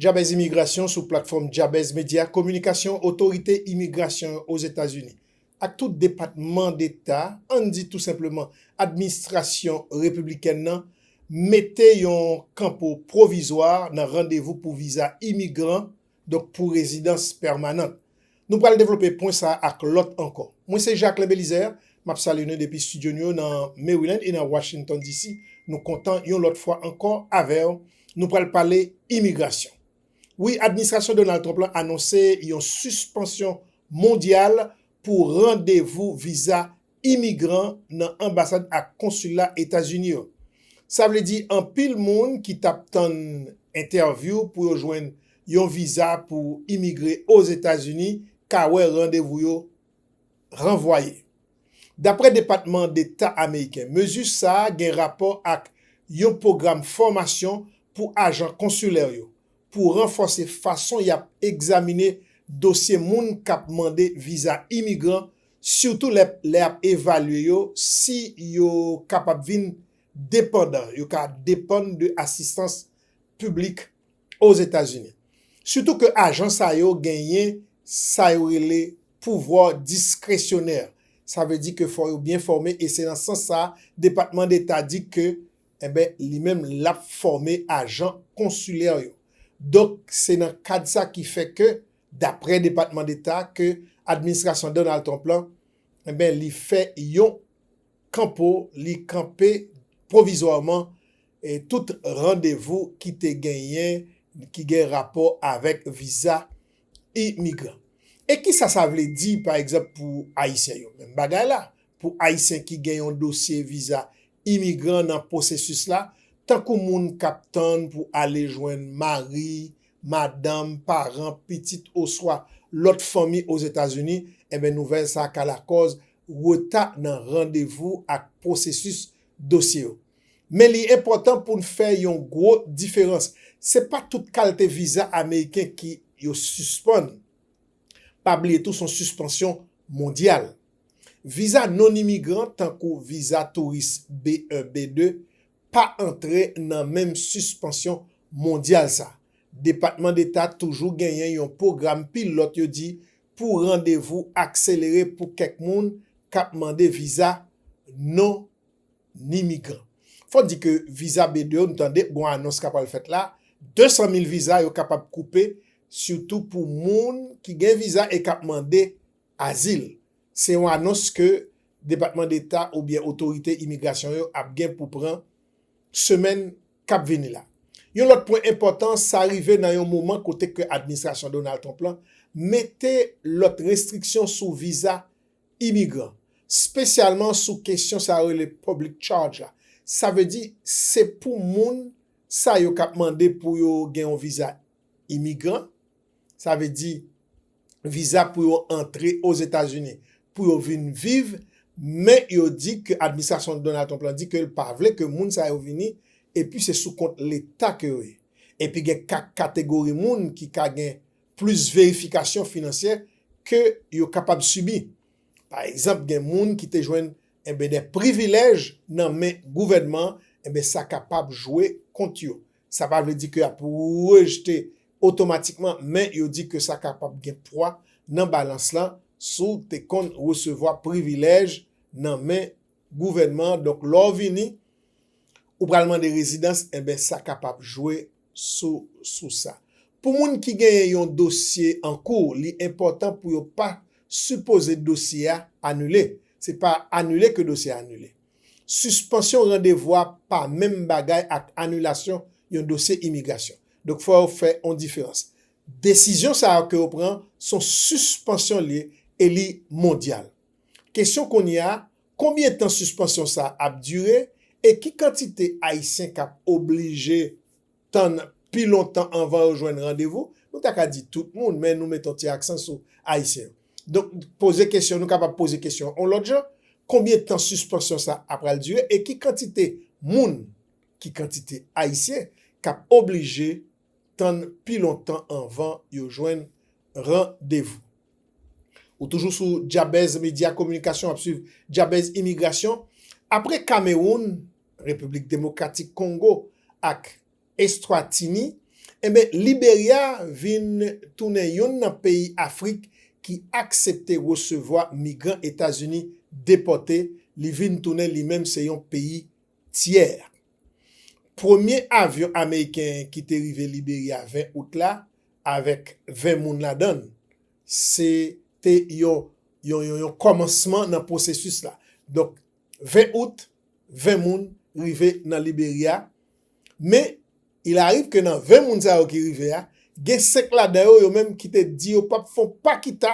Jabez Imigrasyon sou platfòm Jabez Media Kominikasyon Otorite Imigrasyon yo Ozetazini ak tout depatman deta, ann di tou senpleman administrasyon repiblikèn nan, mete yon kanpo pwovizwa nan randevou pou viza imigran, donk pou rezidans pèmanant. Nou pral devlope pwen sa ak lòt ankò. Mwen se Jacquelin Belizaire, m ap salye nou depi studio nou yo nan Maryland e nan Washington DC. Nou kontan yon lòt fwa ankò avè w. Nou pral pale imigrasyon. Wi, administrasyon Donald Trump lan anonse yon sispansyon mondyal pou randevou viza imigran nan anbasad ak konsila Etazini yo. Sa vle di anpil moun ki t ap tann entèvyou pou yo jwenn yon viza pou imigre Ozetazini ka wè randevou yo ranvwaye. Daprè Depatman Deta ameriken, mezi sa a gen rapò ak yon pwogram fòmasyon pou ajan konsilè yo pou ranfòse fason y ap egzamine dosye moun k ap mande viza imigran sitou lè lè y ap evalye yo si yo kapab vin depandan, yo ka depann de asistans piblik Ozetazini. Sitou ke ajan sa yo genyen sa yo rele pouvwa diskresyonè, sa vle di ke fò yo byen fòme e se nan sans sa Depatman Deta di ke enben li menm l ap fòme ajan konsilè yo. Donk se nan kad sa ki fè ke Daprè Depatman Deta ke administrasyon Donald Trump lan, enben li fè yon kanpo, li kanpe pwovizwaman tout randevou ki te genyen ki gen rapò avèk viza imigran. E kisa sa vle di pa egzanp pou Ayisyen yo? Menm bagay la, pou Ayisyen ki gen yon dosye viza imigran nan pwosesis la, tankou moun k ap tann pou ale jwenn mari, madanm, paran, pitit oswa lòt fanmi Ozetazini, enben nouvèl sa ka lakòz reta nan randevou ak pwosesis dosye yo. Men li enpòtan pou n fè yon gwo diferans, se pa tout kalte viza ameriken ki yo sispann. Pa bliye tou son sispansyon mondyal. Viza non-imigran tankou viza touris B1, B2, pa antre nan menm sispansyon mondyal sa. Depatman Deta toujou genyen yon pwogram pilòt yo di pou randevou akselere pou kèk moun k ap mande viza non imigran. Fò di ke viza B2 yo, nou tande gon anons ka pral fèt la, 200 mil viza yo kapab koupe sitou pou moun ki gen viza e k ap mande azil. se yon anons ke Depatman Deta oubyen otorite imigrasyon yo ap gen pou pran semèn k ap vini la. Yon lòt pwen enpòtan, sa rive nan yon moman kote ke administrasyon Donald Trump lan mete lòt restriksyon sou viza imigran, spesyalman sou kesyon sa yo rele public charge la, sa vle di se pou moun sa yo k ap mande pou yo gen yon viza imigran, sa vle di viza pou yo antre Ozetazini pou yo vin viv, men yo di ke administrasyon Donald Trump lan di ke l pa vle ke moun sa yo vini, epi se sou kont leta ke yo ye. Epi gen kak kategori moun ki ka gen plis verifikasyon finansyè ke yo kapab sibi. Pa egzanp gen moun ki te jwenn enben dè privilèj nan men gouvènman, enben sa kapab jwe kont yo, Sa pa vle di ke y ap rejete otomatikman, men yo di ke sa kapab gen pwa nan balans lan si w te konn resevwa privilèj nan men gouvènman an. Donk lè w vini, ou pral mande rezidans, enben sa kapab jwe sou sa. Pou moun ki genyen yon dosye an kou, li enpòtan pou yo pa sipoze dosye a anile. Se pa anile ke dosye a anile. Sispansyon randevou a pa menm bagay ak anilasyon yon dosye imigrasyon. Donk fò yo fè yon diferans. Desizyon sa yo ke yo pran son sispansyon l ye e li mondyal. Kesyon kounye a, konbyen tan sispansyon sa ap dire e ki kantite Ayisyen k ap oblije. tann pi lontan anvan yo jwenn randevou, nou ta ka di tout moun, men nou met on ti aksan sou Ayisyen yo. Donk, poze kesyon, nou kapab poze kesyon on lòt jan, konbyen tan sispansyon sa a pral dire e ki kantite moun, ki kantite Ayisyen k ap oblije tann pi lontan anvan yo jwenn randevou? Ou toujou sou Djabèz Medya Kominikasyon w ap swiv Djabèz Imigrasyon. Apre Kamewoun, Repiblik Demokratik Kongo ak Estwatini, enben Liberya vin tounen yonn nan peyi Afrik ki aksepte resevwa migran Etazini depòte, li vin tounen li menm se yon peyi tyè. Premye avyon ameriken ki te rive Liberya 20 out la avèk 20 moun ladan l, se te yon yon yon kòmansman nan pwosesis la. Donk 20 out, 20 moun rive nan Liberia, men il arrive ke nan 20 moun sa yo ki rive a, gen 5 ladan yo yo menm ki te di yo pap fon pa kita,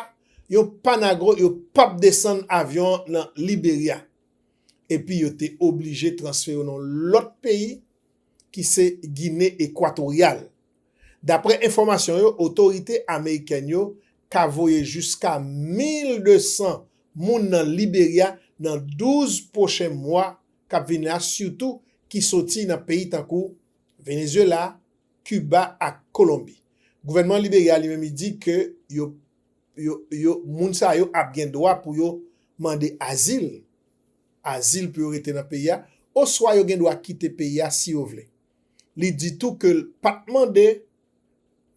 yon pa nagro yo pap desann avyon an nan Liberia. Epi yo te oblije transfere yo nan yon lòt peyi. ki se Gine Ekwatoryal. Dapre enfòmasyon yo, otorite amerikèn yo ka voye jiska 1,200 moun nan Liberya nan 12 pwochen mwa k ap vin la sitou ki soti nan peyi tankou Venezyela, Kiba ak Kolonbi. Gouvènman Liberya li menm li di ke yo yo yo moun sa yo ap gen dwa pou yo mande azil. azil pou yo rete nan peyi a, oswa yo gen dwa kite peyi a si yo vle. Li di tou ke l pa t mande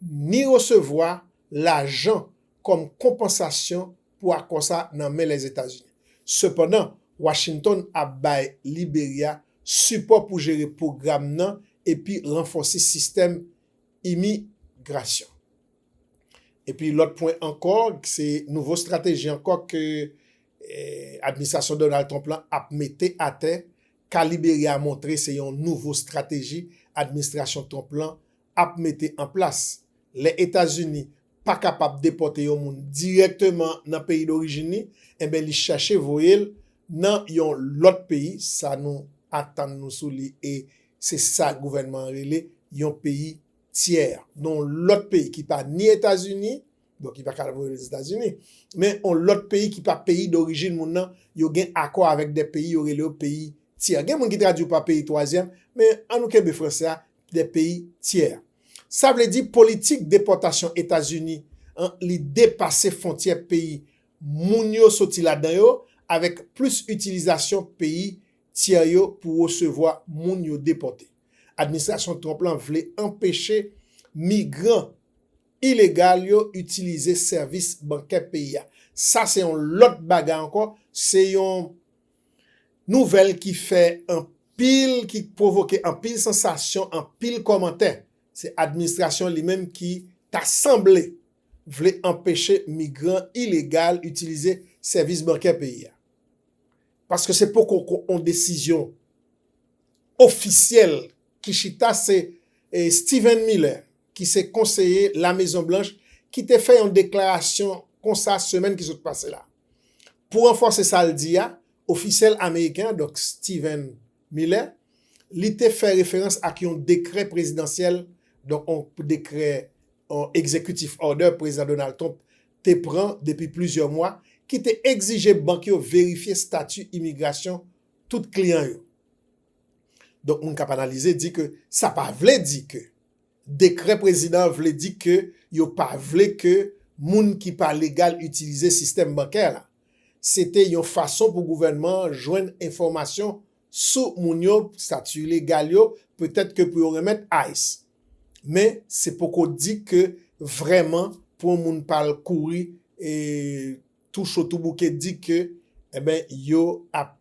ni resevwa lajan kòm konpansasyon pou akò sa a nan men Lèzetazini. Sepandan, Washington ap bay Liberya sipò pou jere pwogram nan epi ranfòse sistèm imigrasyon. Epi lòt pwen ankò, se nouvo strateji ankò ke Administrasyon Donald Trump lan ap mete atè ka Liberya a montre se yon nouvo strateji administrasyon Trump lan ap mete an plas. Lè Etazini pa kapab depòte yon moun dirèkteman nan peyi dorijin li, enben li chache voye l nan yon lòt peyi, sa nou atann nou sou li e se sa gouvènman an rele yon peyi tyè, yon lòt peyi ki pa ni Etazini, Donk li pa ka al voye l Ozetazini. Men yon lòt peyi ki pa peyi dorijin moun nan, yo gen akò avèk de peyi yo rele yo peyi tyè. Gen moun ki tradui yo pa peyi twazyèm, men an nou kenbe franse a, de peyi tyè. Sa vle di politik depòtasyon Etazini an li depase fontyè peyi moun yo soti ladan yo avèk plis itilizasyon peyi tyè yo pou resevwa moun yo depòte. Administrasyon Trump lan vle anpeche migran. ilegal yo itilize sèvis bankè peyi a. Sa se yon lòt bagay ankò, se yon nouvèl ki fè anpil, ki pwovoke anpil sansasyon, anpil kòmantè. Se administrasyon li menm ki ta sanble vle anpeche migran ilegal itilize sèvis bankè peyi a. Paske se poko kon yon desizyon ofisyèl ki chita se Steven Miller, ki se konseye Lamezonblanch ki te fè yon deklarasyon konsa semèn ki sot pase la. Pou ranfòse sa l di a, ofisyèl ameriken an, donk Stephen Miller, li te fè referans ak yon dekrè prezidansyèl, donk yon dekrè, yon executive order Prezidan Donald Trump te pran depi plizyè mwa, ki te egzije bank yo verifye stati imigrasyon tout kliyan yo. Donk moun k ap analize di ke sa pa vle di ke. Dekrè prezidan an vle di ke yo pa vle ke moun ki pa legal itilize sistèm bankè la. Se te yon fason pou gouvènman an jwenn enfòmasyon sou moun yo, stati legal yo, petèt ke pou yo renmèt ice. Men, se poko di ke vrèman pou yon moun pa al kouri tou cho tou bouke di ke, enben, yo ap.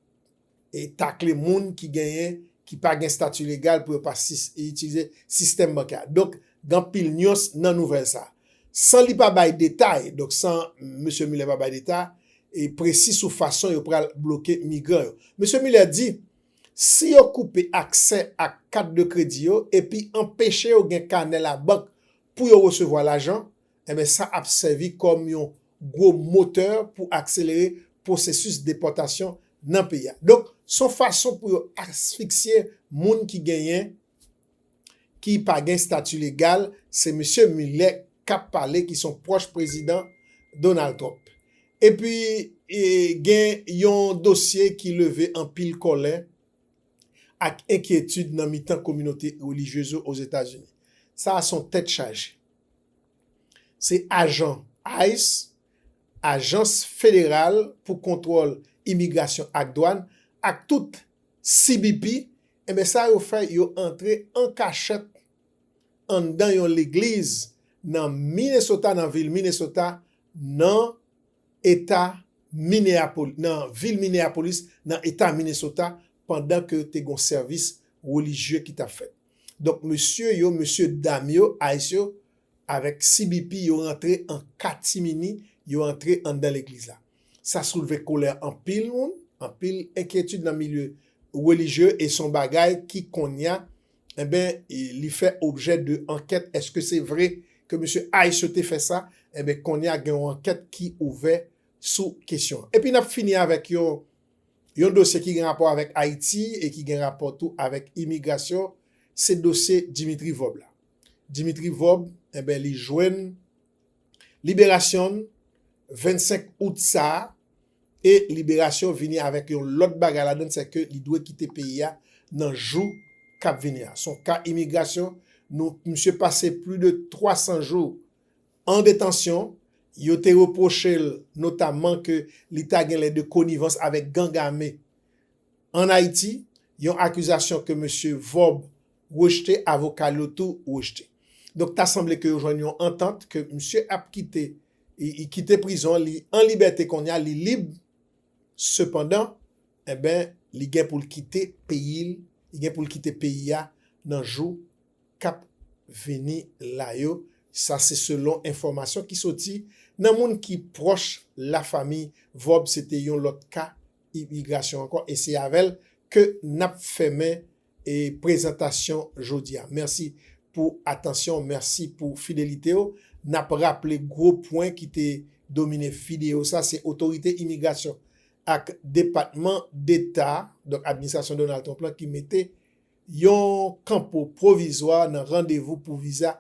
takle moun ki genyen, ki pa gen stati legal pou yo pa itilize sistèm bankè a. Donk, gen anpil nyans nan nouvèl sa a. San li pa bay detay, donk san Mesye Miller pa bay detay e presi sou fason yo pral bloke migran yo. Mesye Miller di, Si yo koupe aksè ak kat de kredi yo epi anpeche yo gen kanè labank pou yo resevwa lajan, enben sa ap sèvi kòm yon gwo motè pou akselere pwosesis depòtasyon nan peyi a. Donk, s on fason pou yo asfiksye moun ki genyen ki pa gen stati legal, se Misye Mueller k ap pale ki s on pwòch Prezidan Donald Trump. Epi, gen yon dosye ki leve anpil kòlè ak enkyetid nan mitan kominote relijyez yo Ozetazini. Sa a s on tèt chaje. Se ajan ice, Ajans Federal pou Kontwòl Imigrasyon ak Dwàn, ak tout CBP, enben sa yo fè yo antre an kachèt anndan yon legliz nan Minnesota, nan vil Minnesota, nan eta Minneapolis, nan vil Minneapolis, nan eta Minnesota, pandan ke te gon sèvis relijye ki tap fèt. Donk mesye yo, mesye dam yo, ays yo avèk CBP yo rantre an katimini, yo antre anndan legliz la. Sa soulve kolè anpil moun, anpil enkyetid nan milye relijye e son bagay ki konnya enben li fè objè de ankèt eske se vre ke mesye ays yo te fè sa enben konnya gen yon ankèt ki ouvè sou kesyon an. Epi nap fini avèk yon Yon dosye ki gen rapò avèk Ayiti e ki gen rapò tou avèk imigrasyon, se dosye Dimitri Vob la. Dimitri Vob, enben li jwenn liberasyon n 25 out sa a e liberasyon vini avèk yon lòt bagay ladan n se ke li dwe kite peyi a nan jou k ap vini a. S on ka imigrasyon, nou, misye pase pli de 300 jou. An detansyon, yo te repwoche l notamman ke li ta genlè de konivans avèk gang ame an Ayiti, yon akizasyon ke mesye Vorb rejte, avoka l yo tou rejte. Donk ta sanble ke yo jwenn yon antant ke misye ap kite kite prizon, li an libète kounye a, li lib, sepandan, enben, li gen pou l kite peyi l, li gen pou l kite peyi a nan jou kap vini la yo, sa se selon enfòmasyon ki soti nan moun ki pwòch lafanmi Vorbe se te yon lòt ka imigrasyon ankò e se avèl ke nap fèmen prezantasyon jodia. Mèsi pou atansyon, mèsi pou fidelitew, nap raple gwo pwen ki te domine fideo sa se otorite imigrasyon ak depatman deta donk administrasyon Donald Trump lan ki mete Yon kanpo pwovizwa nan randevou pou viza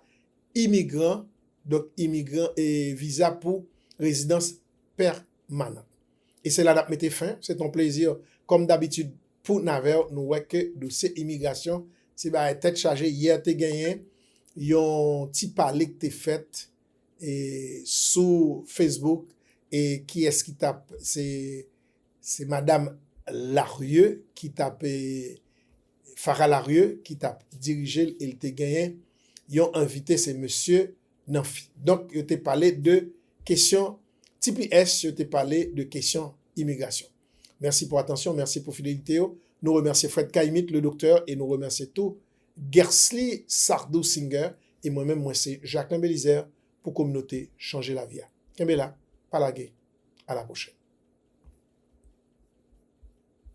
imigran, donk imigran e viza pou rezidans pèmanan. E se la nap mete fen, se t on plezi kòm dabitid pou n avèw, nou wè ke dosye imigrasyon se bagay tèt chaje, yè te genyen yon ti pale k te fèt sou Facebook e kiyès ki tap se Se madam Larieux ki t ap, Farah Larieux ki t ap dirije l e l te genyen yon envite se mesye Nanphy. Donk yo te pale de kesyon tps, yo te pale de kesyon imigrasyon. Mèsi pou atansyon, mèsi pou fidelite yo. Nou remèsye Fred Kaimit, Le Doktè e nou remèsye tou Guercely Sardou Singer e mwen menm mwen se Jacquelin Belizaire pou kominote chanje lavi a. Kenbe la, pa lage, a la pwochèn.